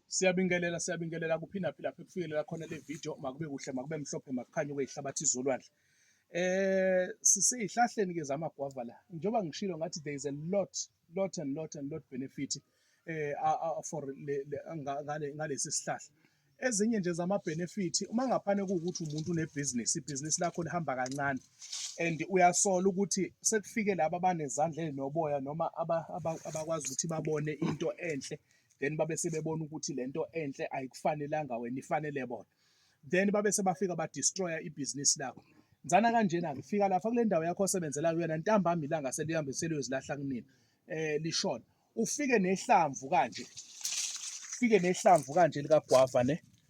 Siyabingelela siyabingelela kuphi naphi lapho kufikelela khona le video makube kuhle makube mhlophe makukhanye kweyihlabathi zolwandle eh siseyihlahleni ke zamagwava la njengoba ngishilo ngathi there is a lot lot and lot and lot benefit eh for ngale ngalesi sihlahla ezinye nje zama benefit uma ngaphane ukuthi umuntu une business ibhizinisi lakho lihamba kancane and uyasola ukuthi sekufike laba abanezandla ezinoboya noma abakwazi ukuthi babone into enhle then babe sebebona ukuthi lento enhle ayikufanelanga wena ifanele bona then babe sebafika ba destroyer ibhizinisi lakho nzana kanjena ke fika lapha kule ndawo yakho osebenzela kuyona ntambama ilanga selihambe seliyozilahla kunina eh lishona ufike nehlamvu kanje ufike nehlamvu kanje likagwava ne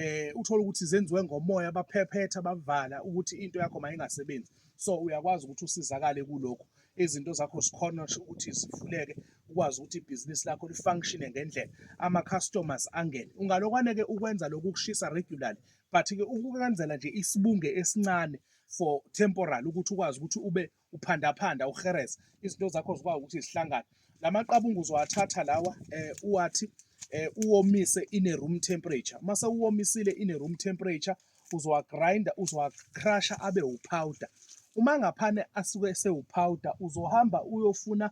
eh uthola ukuthi zenziwe ngomoya abaphephetha bavala ukuthi into yakho mayingasebenzi so uyakwazi ukuthi usizakale kuloko izinto zakho sikhona ukuthi zivuleke ukwazi ukuthi ibhizinisi lakho lifunctione ngendlela ama-customers angene ungalokwane-ke ukwenza lokhu ukushisa regularly but-ke ukwenzela nje isibunge esincane for temporal ukuthi ukwazi ukuthi ube uphandaphanda uhereza izinto zakho zikwazi ukuthi zihlangane la maqabunga uzowathatha lawa eh, uwathi eh, uwomise in a room temperature uma sewuwomisile in a room temperature uzowagrinda uzowacrusha abe upowder uma ngaphane asuke esewupowder uzohamba uyofuna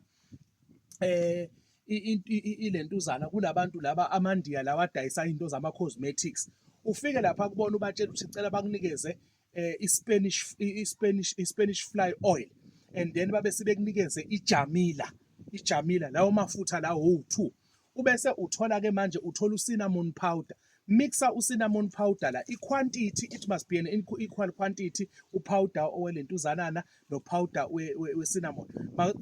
eh ilentuzana kulabantu laba amandiya lawa adayisa into zama cosmetics ufike lapha kubona ubatshela ukuthi cela bakunikeze eh, iSpanish iSpanish iSpanish fly oil and then babe sebekunikeze iJamila iJamila lawo mafutha lawo owu2 ubese uthola ke manje uthola ucinnamon powder mixa ucinnamon powder la iquantity it must be an equal quantity upowder owelentuzanana nopowder wecinnamon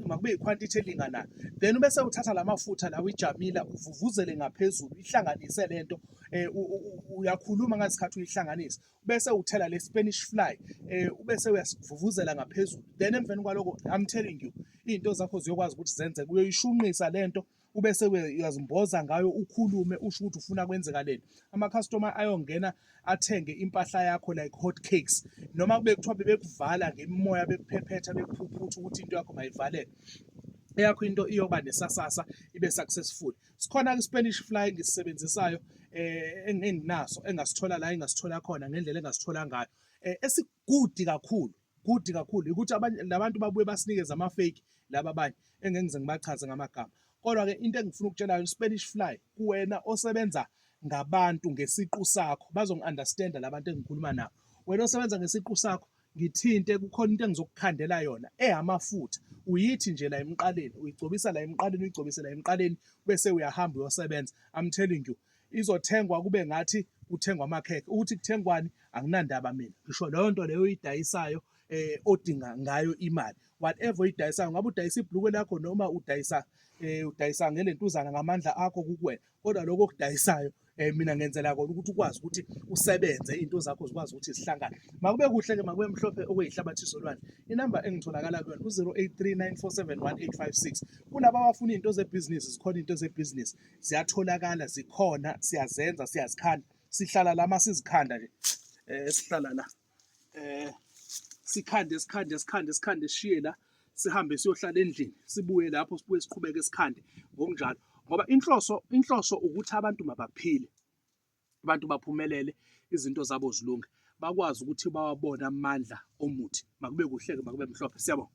makube iquantity elinganayo then ubese uthatha lamafutha lawo ijamila uvuvuzele ngaphezulu ihlanganise lento eh, uyakhuluma ngesikhathi uyihlanganisa bese uthela le Spanish fly eh ubese uyasivuvuzela ngaphezulu then emveni kwaloko I'm telling you izinto zakho ziyokwazi ukuthi zenze kuyoyishunqisa lento ubese uyazimboza ngayo ukhulume usho ukuthi ufuna kwenzekaleni ama customer ayongena athenge impahla yakho like hot cakes noma kube kuthiwa bebekuvala ngemimoya bekuphephetha bekuphuphutha ukuthi into yakho mayivaleke eyakho into iyoba nesasasa ibe successful sikhona ke Spanish fly ngisisebenzisayo eh enginaso engasithola la engasithola khona ngendlela engasithola ngayo eh, esigudi kakhulu gudi kakhulu ukuthi labantu babuye basinikeze ama fake laba abanye engengize ngibachaze ngamagama kodwa ke into engifuna ukutshela yona Spanish fly kuwena osebenza ngabantu ngesiqu sakho bazongiunderstanda labantu engikhuluma nabo wena osebenza ngesiqu sakho ngithinte kukhona into engizokukhandela yona eyamafutha uyithi nje la emqaleni uyigcobisa la emqaleni uyigcobise la emqaleni bese uyahamba uyosebenza i'm telling you izothengwa kube ngathi kuthengwa amakhekhe ukuthi kuthengwani anginandaba mina ngisho leyo nto leyo oyidayisayo eh odinga ngayo imali whatever oyidayisayo ngabe udayisa ibhlukwe lakho noma udayisa eh udayisa ngelentuzana ngamandla akho kukuwena kodwa lokho okudayisayo eh mina ngenzela kona ukuthi ukwazi ukuthi usebenze into zakho zikwazi ukuthi zihlangane makube kuhle ke makube mhlophe okuyihlabathi izolwane inamba engitholakala kuyona u0839471856 kulabo abafuna into zebhizinisi zikhona into zebhizinisi ziyatholakala zikhona siyazenza siyazikhanda sihlala la masizikhanda nje eh sihlala la eh sikhande sikhande sikhande sikhande siye la sihambe siyohlala endlini sibuye lapho sibuye siqhubeke sikhande ngokunjalo ngoba inhloso inhloso ukuthi abantu mabaphile abantu baphumelele izinto zabo zilunge bakwazi ukuthi bawabone amandla omuthi makube kuhleke makube mhlophe siyabonga